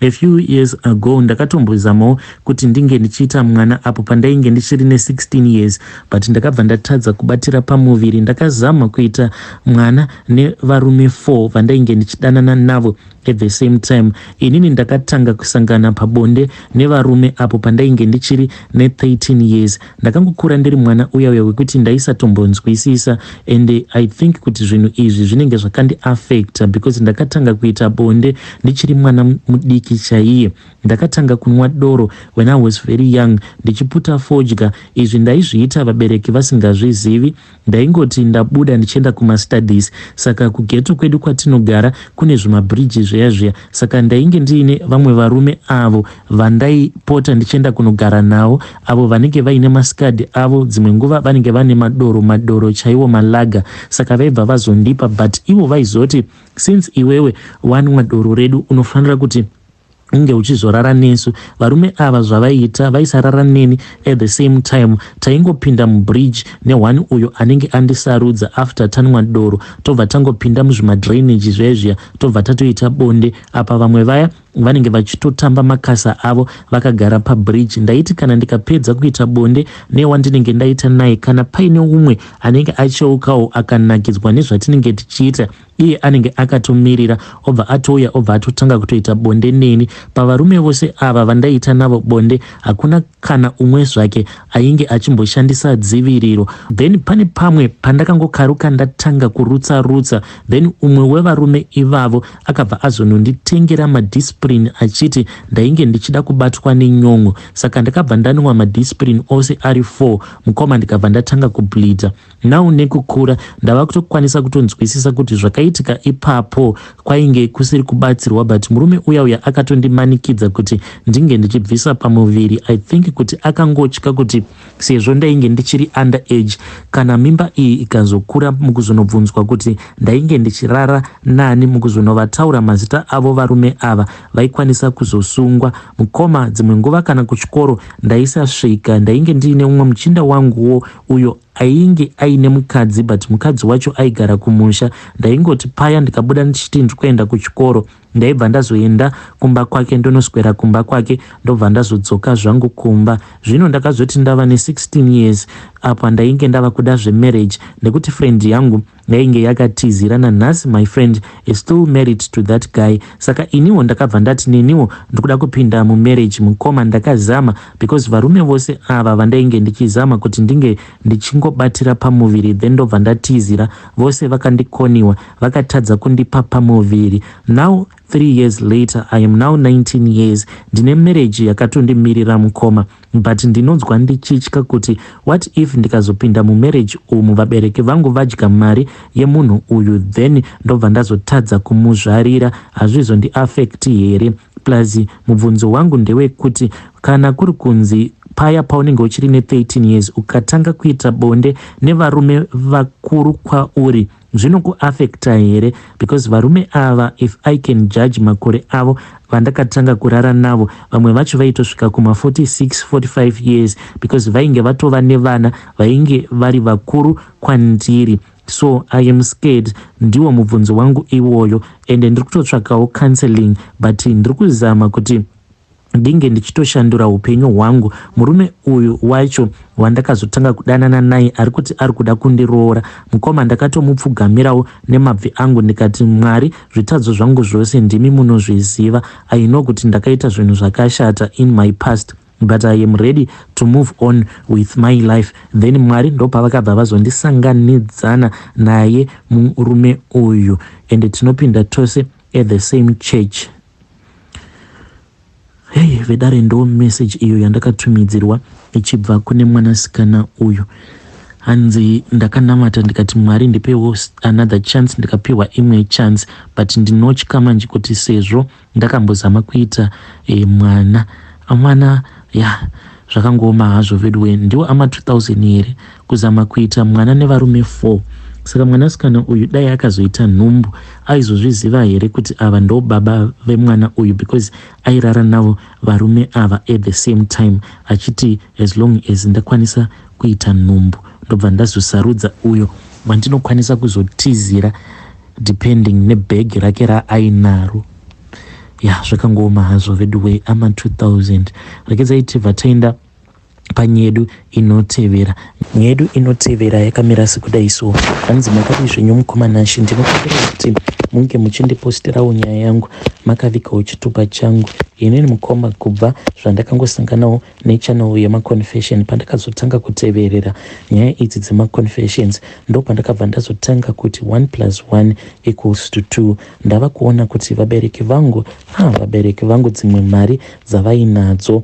A few years ago ndakatombozamawo kuti ndinge ndichiita mwana apo pandainge ndichiri ne 16 years but ndakabva ndatadza kubatira pamuviri. Ndakazama kuita mwana nevarume 4 vandainge ndichidanana navo at the same time. Inini ndakatanga kusangana pabonde nevarume apo pandainge ndichiri ne 13 years. Ndakangokura ndiri mwana uya uya wekuti ndaisatombonzwisisa and I think kuti zvinhu izvi zvinenge zvakandi affecta because ndakatanga kuita bonde ndichiri mwana mudiki chaiye. Ndakatanga kunwa doro when I was very young ndichiputa fodya. Izvi ndaizviita vabereki vasingazvizivi Ndaingoti ndabuda ndichienda kuma studies saka kughetto kwedu kwatinogara kune zvima bridge zviya zviya saka ndainge ndiine vamwe varume avo vandaipota ndichienda kunogara nawo avo vanenge vaine maskad avo dzimwe nguva vanenge vane madoro madoro chaiwo malaga saka vaibva vazondipa but ivo vaizoti since iwewe wanwa doro redu unofanira kuti unge uchizorara nesu varume ava zvavaiita vaisarara neni at the same time taingopinda mubridge nehwani uyo anenge andisarudza after tanwa doro tobva tangopinda muzvimadrainage zvezviya tobva tatoita bonde apa vamwe vaya vanenge vachitotamba makasa avo vakagara pabridge ndaiti kana ndikapedza kuita bonde newandinenge ndaita naye kana paine umwe anenge acheukawo akanakidzwa nezvatinenge tichiita iye anenge akatomirira obva atouya obva atotanga kutoita bonde neni. Pavarume vose ava vandaiita navo bonde hakuna kana umwe zvake ainge achimboshandisa dziviriro. Then pane pamwe pandakangokaruka ndatanga kurutsa rutsa then umwe wevarume ivavo akabva azononditengera madiscipline achiti ndainge ndichida kubatwa nenyon'o saka ndakabva ndanwa madiscipline ose ari four mukoma ndikabva ndatanga kubleeder. Now nekukura ndava kutokwanisa kutonzwisisa kuti zvakaitika ipapo kwainge kusiri kubatsirwa but murume uya uya akatondimanikidza kuti ndinge ndichibvisa pamuviri. I think kuti akangotya kuti sezvo ndainge ndichiri under age kana mimba iyi ikazokura mukuzonobvunzwa kuti ndainge ndichirara nani mukuzonovataura mazita avo varume ava vaikwanisa kuzosungwa. Mukoma dzimwe nguva kana kuchikoro ndaisasvika ndainge ndiine umwe muchinda wanguwo uyo ainge aine mukadzi but mukadzi wacho aigara kumusha ndaingoti paya ndikabuda ndichiti ndiri kuenda kuchikoro ndaibva ndazoenda kumba kwake ndonoswera kumba kwake ndobva ndazodzoka zvangu kumba zvino ndakazoti ndava ne16 years apa ndainge ndava kuda zvemarriage nekuti friend yangu yainge yakatizira nanhasi my friend is still married to that guy saka iniwo ndakabva ndati neniwo ndikuda kupinda mumarriage mukoma ndakazama because varume vose ava vandainge ndichizama kuti ndinge ndichingobatira pamuviri then ndobva ndatizira vose vakandikoniwa vakatadza kundipa pamuviri now Three years later I am now 19 years ndine marriage yakatondimirira mukoma but ndinonzwa ndichitya kuti what if ndikazopinda mumarriage umu vabereki vangu vadya mari yemunhu uyu then ndobva ndazotadza kumuzvarira hazvizondiaffect here plus mubvunzo wangu ndewekuti kana kuri kunzi paya paunenge uchiri ne 13 years ukatanga kuita bonde nevarume vakuru kwauri Zvinoku affecta here because varume ava if I can judge makore avo vandakatanga kurara navo vamwe vacho vaitosvika kuma 46, 45 years because vainge vatova nevana vainge vari vakuru kwandiri so I am scared ndiwo mubvunzo wangu iwoyo ende ndiri kutotsvakawo counselling but ndiri kuzama kuti ndinge ndichitoshandura upenyu hwangu murume uyu wacho wandakazotanga kudanana naye ari kuti ari kuda kundiroora mukoma ndakatomupfugamirawo nemabvi angu ndikati mwari zvitadzo zvangu zvose ndimi munozviziva i know kuti ndakaita zvinhu zvakashata in my past but i am ready to move on with my life then mwari ndopavakabva vazondisanganidzana naye murume uyu ende tinopinda tose at the same church Hey vedare ndo message iyo yandakatumidzirwa ichibva kune mwanasikana uyu hanzi ndakanamata ndikati mwari ndipewo another chance ndikapiwa imwe chance but ndinotya manje kuti sezvo ndakambozama kuita e, mwana mwana ya yeah. Zvakangooma hazvo veduwe ndiwo ama 2000 here kuzama kuita mwana nevarume 4 saka mwanasikana uyu dai akazoita nhumbu aizozviziva here kuti ava ndo baba vemwana uyu because airara navo varume ava at the same time achiti as long as ndakwanisa kuita nhumbu ndobva ndazosarudza uyo wandinokwanisa kuzotizira depending nebhegi rake raainaro ya zvakangooma hazvo veduwee ama 2000 rekedzai tibva taenda panyedu inotevera nyedu inotevera yakamira sekudai so hanzi makadii zvenyu mukomanashe ndinokumbira kuti munge muchindipostirawo nyaya yangu makavikawo chitupa changu inini mukoma kubva zvandakangosanganawo nechannel yemaconfession pandakazotanga kuteverera nyaya idzi dzemaconfessions ndopandakabva ndazotanga kuti 1 plus 1 equals to 2 ndava kuona kuti vabereki vangu ha vabereki vangu dzimwe mari dzavainadzo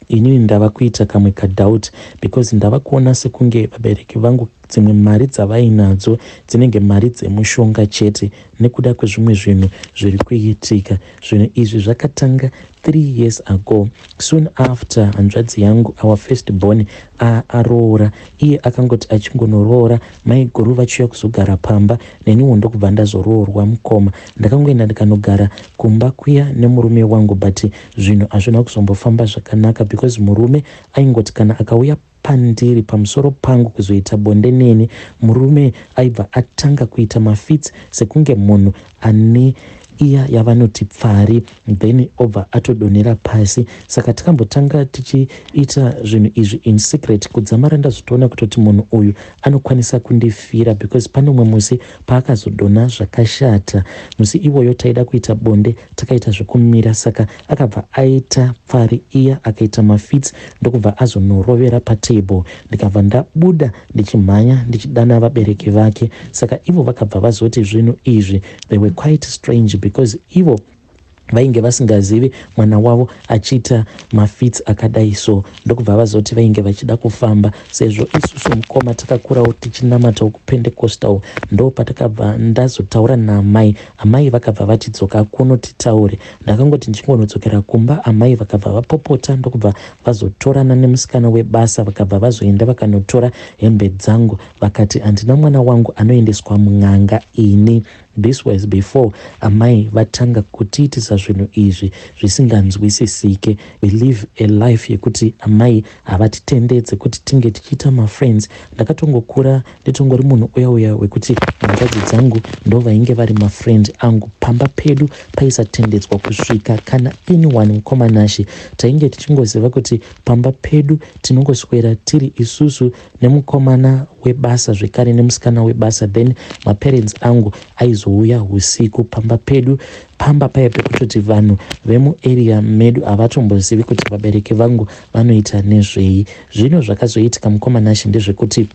inini ndava kuita kamwe kadoubt because ndava kuona sekunge vabereki vangu Dzimwe mari dzavainadzo dzinenge mari dzemushonga chete nekuda kwezvimwe zvinhu zviri kuitika. Zvinhu izvi zvakatanga three years ago soon after hanzvadzi yangu our first born aroora. Iye akangoti achingonoroora maiguru vachiuya kuzogara pamba neniwo ndokubva ndazoroorwa mukoma. Ndakangoenda ndikanogara kumba kuya nemurume wangu but zvinhu hazvina kuzombofamba zvakanaka because murume aingoti kana akauya pandiri pamusoro pangu kuzoita bonde neni murume aibva atanga kuita mafits sekunge munhu ane iya yavanoti pfari then obva atodonhera pasi saka tikambotanga tichiita zvinhu izvi in secret kudzamara ndazvitoona kutoti munhu uyu anokwanisa kundifira because pane umwe musi paakazodonha zvakashata musi iwoyo taida kuita bonde takaita zvekumira saka Akabva aita pfari iya akaita mafits ndokubva azonorovera patable ndikabva ndabuda ndichimhanya ndichidana vabereki vake saka ivo vakabva vazoti zvinhu izvi they were quite strange because ivo vainge vasingazivi mwana wavo achiita mafits akadai so ndokubva vazoti vainge vachida kufamba sezvo isusu mukoma takakurawo tichinamatawo kupendecostal ndo patakabva ndazotaura naamai amai vakabva vatidzoka kuno titaure Ndakangoti ndichingonodzokera kumba amai vakabva vapopota ndokubva vazotorana nemusikana webasa vakabva vazoenda vakanotora hembe dzangu vakati handina mwana wangu anoendeswa mun'anga ini this was before amai vatanga kutiitisa zvinhu izvi zvisinganzwisisike we live a life yekuti amai havatitendedze kuti tinge tichiita mafriends ndakatongokura Nditongori munhu uya uya wekuti hanzvadzi dzangu ndovainge vari mafriend angu pamba pedu paisatendedzwa kusvika kana anyone mukoma Nashe tainge tichingoziva kuti pamba pedu tinongoswera tiri isusu nemukomana webasa zvekare nemusikana webasa then maparents angu aizouya usiku pamba pedu pamba paya pekutoti vanhu vemuarea medu havatombozivi kuti vabereki vangu vanoita nezvei zvino zvakazoitika mukoma Nashe ndezvekuti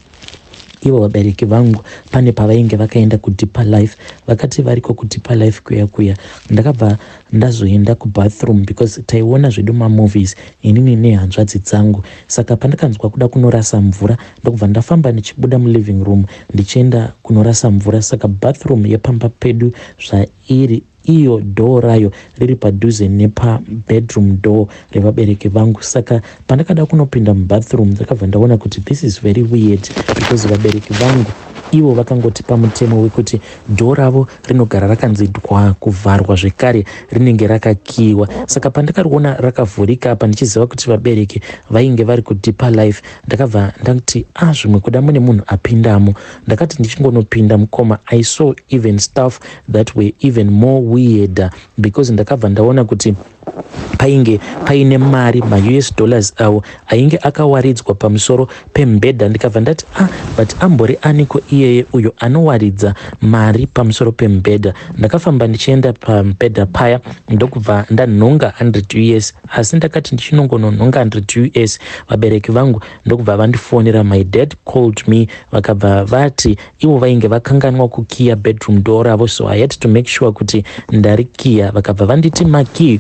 Ivo vabereki vangu pane pavainge vakaenda kudeeper life vakati variko kudeeper life kuya kuya ndakabva ndazoenda kubathroom because taiona zvedu mamovies inini nehanzvadzi dzangu saka pandakanzwa kuda kunorasa mvura ndokubva ndafamba ndichibuda muliving room ndichienda kunorasa mvura saka bathroom yepamba pedu zvairi Iyo door rayo riri padhuze nepa bedroom door revabereki vangu saka pandakada kunopinda mubathroom ndakabva ndaona kuti this is very weird because vabereki vangu ivo vakangoti pamutemo wekuti door ravo rinogara rakanzi dwa kuvharwa zvekare rinenge rakakiiwa saka pandakariona rakavhurika apa ndichiziva kuti vabereki vainge vari kudeeper life ndakabva ndati a ah, zvimwe kuda mune munhu apindamo ndakati ndichingonopinda mukoma i saw even staff that were even more weirder because ndakabva ndaona kuti painge paine mari maus dollars awo ainge akawaridzwa pamusoro pembhedha ndikabva ndati ah but ambori aniko iyeye uyo anowaridza mari pamusoro pembhedha ndakafamba ndichienda pambhedha paya ndokubva ndanhonga 100 us asi ndakati ndichinongononhonga 100 us vabereki vangu ndokubva vandifonera my dad called me vakabva vati Ivo vainge vakanganwa kukiya bedroom door ravo so I had to make sure kuti ndarikiya. Vakabva vanditi makey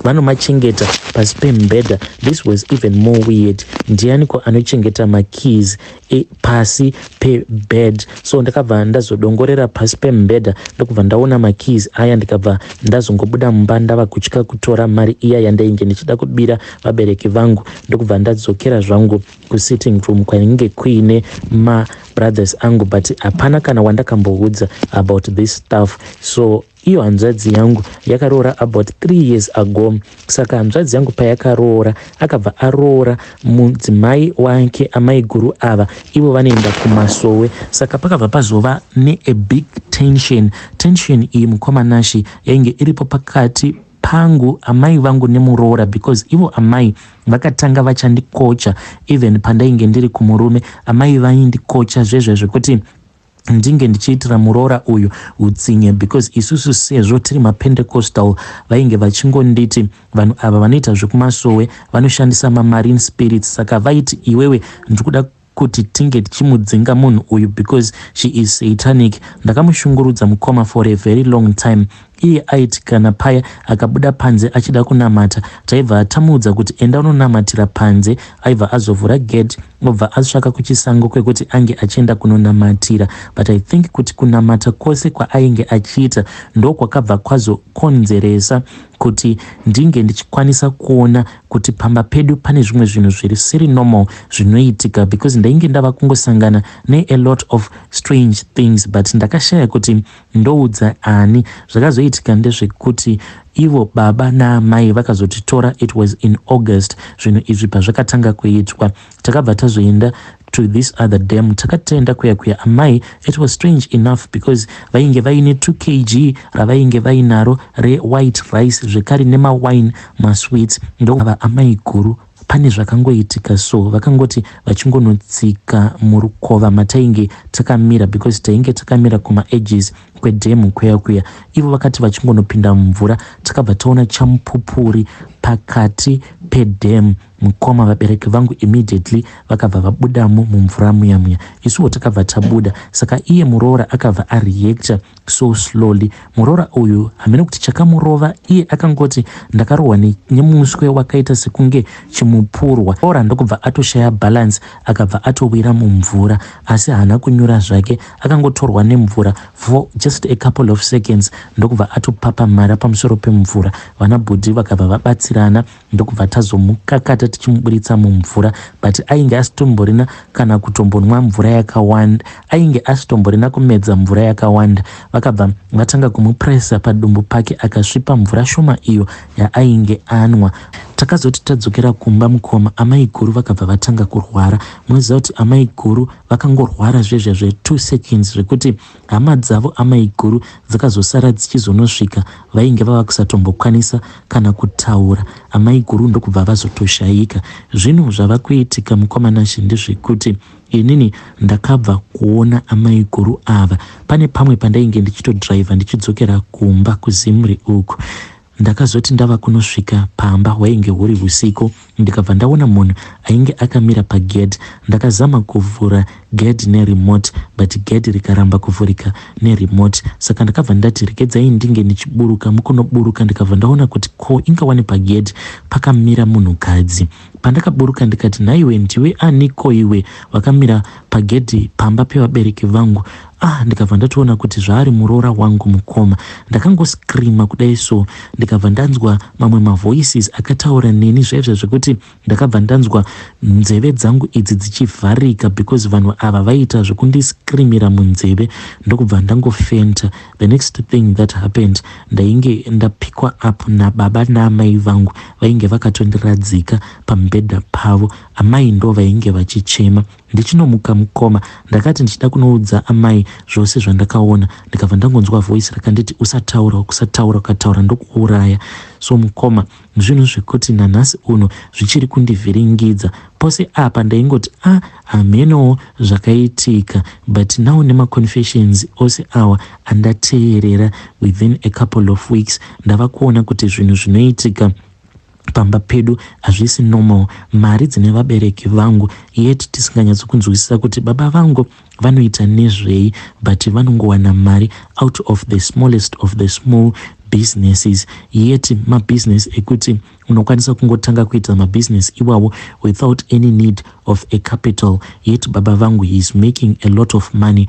vanomachengeta vano pasi pemubhedha. This was even more weird. Ndiyaniko anochengeta makeys e, pasi pebed? So ndakabva ndazodongorera pasi pemubhedha ndokubva ndaona makeys aya ndikabva ndazongobuda mumba ndava kutya kutora mari iya yandainge ndichida kubira vabereki vangu ndokubva ndadzokera zvangu kusitting room kwainge kuine ma brothers angu but hapana kana wandakamboudza about this stuff so iyo hanzvadzi yangu yakaroora about three years ago saka hanzvadzi yangu payakaroora akabva aroora mudzimai wake amai guru ava ivo vanoenda kumasowe saka pakabva pazova neabig tension tension iyi mukoma nashi yainge iripo pakati pangu amai vangu nemuroora because ivo amai vakatanga vachandikocha even pandainge ndiri kumurume amai vaindikocha zvezve zvekuti ndinge ndichiitira muroora uyu utsinye because isusu sezvo tiri mapentecostal vainge vachingonditi vanhu ava vanoita zvekumasowe vanoshandisa mamarine spirits saka vaiti iwewe ndikuda kuti tinge tichimudzinga munhu uyu because she is satanic. Ndakamushungurudza mukoma for a very long time iye aiti kana paya akabuda panze achida kunamata taibva tamuudza kuti enda unonamatira panze aibva azovhura gate obva atsvaka kuchisango kwekuti ange achienda kunonamatira but i think kuti kunamata kwose kwaainge achiita ndokwakabva kwazokonzeresa kuti ndinge ndichikwanisa kuona kuti pamba pedu pane zvimwe zvinhu zviri siri normal zvinoitika because ndainge ndava kungosangana ne a lot of strange things but ndakashaya kuti ndoudza ani zvakazoitika ndezvekuti ivo baba naamai vakazotitora it was in august zvinhu izvi pazvakatanga kuitwa Takabva tazoenda to this other dam takati taenda kuya kuya amai it was strange enough because vainge vaine 2 kg ravainge vainaro rewhite rice zvekare nemawine masweets ndoava amai guru pane zvakangoitika so vakangoti vachingonotsika murukova matainge takamira because tainge takamira kumaedges kwedhemu kweya kuya ivo vakati vachingonopinda mumvura takabva taona chamupupuri pakati pedhemu Mukoma vabereki vangu immediately vakabva vabudamo mumvura muya muya isuwo takabva tabuda saka iye muroora akabva areactor so slowly muroora uyu hameno kuti chakamurova iye akangoti ndakarohwa ne, nemuswe wakaita sekunge chimupurwa roora ndokubva atoshaya balance akabva atowira mumvura asi haana kunyura zvake akangotorwa nemvura for just a couple of seconds ndokubva atopapamhara pamusoro pemvura vanabhudhi vakabva vabatsirana ndokubva tazomukakata tichimuburitsa mumvura but ainge asitomborina kana kutombonwa mvura yakawanda ainge asitomborina kumedza mvura yakawanda vakabva vatanga kumupresa padumbu pake akasvipa mvura shoma iyo yaainge anwa takazoti tadzokera kumba mukoma amai guru vakabva vatanga kurwara munoziva kuti amai guru vakangorwara zvezvezve two seconds zvekuti Hama dzavo amaiguru dzakazosara dzichizonosvika vainge vava kusatombokwanisa kana kutaura amaiguru ndokubva vazotoshaika. Zvinhu zvava kuitika mukoma Nashe ndezvekuti inini ndakabva kuona amaiguru ava pane pamwe pandainge ndichitodhiraivha ndichidzokera kumba kuZimri uku Ndakazoti ndava kunosvika pamba hwainge huri husiku ndikabva ndaona munhu ainge akamira pagedhi. Ndakazama kuvhura gedhi neremote but gedhi rikaramba kuvhurika neremote saka ndakabva ndati regedzai ndinge ndichiburuka. Mukunoburuka ndikabva ndaona kuti ko inga wani pagedhi pakamira munhukadzi. Pandakaburuka ndikati nhaiwe ndiwe ani ko iwe wakamira pagedhi pamba pevabereki vangu Ah, ndikabva ndatoona kuti zvaari muroora wangu mukoma. Ndakangoscreama kudai so ndikabva ndanzwa mamwe mavoices akataura neni zvaizvo zvekuti ndakabva ndanzwa nzeve dzangu idzi dzichivharika because vanhu ava vaiita zvekundiscreamira munzeve ndokubva ndangofenta. The next thing that happened ndainge ndapikwa up nababa naamai vangu vainge vakatondiradzika pamubhedha pavo. Amai ndo vainge vachichema Ndichinomuka mukoma ndakati ndichida kunoudza amai zvose zvandakaona ndikabva ndangonzwa voice rakanditi usataura ukusataura ukataura ndokuuraya so mukoma zvinhu zvekuti nanhasi uno zvichiri kundivhiringidza pose apa ndaingoti a ah, hamenowo zvakaitika but now nemaconfessions ose awa andateerera within a couple of weeks ndava kuona kuti zvinhu zvinoitika pamba pedu hazvisi normal mari dzine vabereki vangu yet tisinganyatso kunzwisisa kuti baba vangu vanoita nezvei but vanongowana mari out of the smallest of the small businesses yet mabusiness ekuti unokwanisa kungotanga kuita mabusiness iwawo without any need of a capital yet baba vangu he is making a lot of money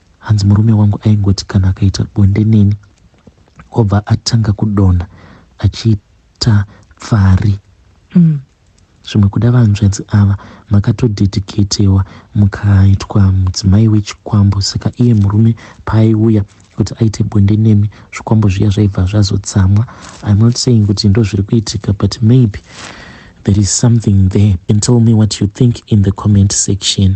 Hanzi murume wangu aingoti kana akaita bonde neni obva atanga kudonha achiita pfari. Umm zvimwe kuda vanzvadzi ava makatodediketewa mukaitwa mudzimai wechikwambo saka iye murume paaiuya kuti aite bonde nemi zvikwambo zviya zvaibva zvazotsamwa im not saying kuti ndo zviri kuitika but maybe there is something there and tell me what you think in the comment section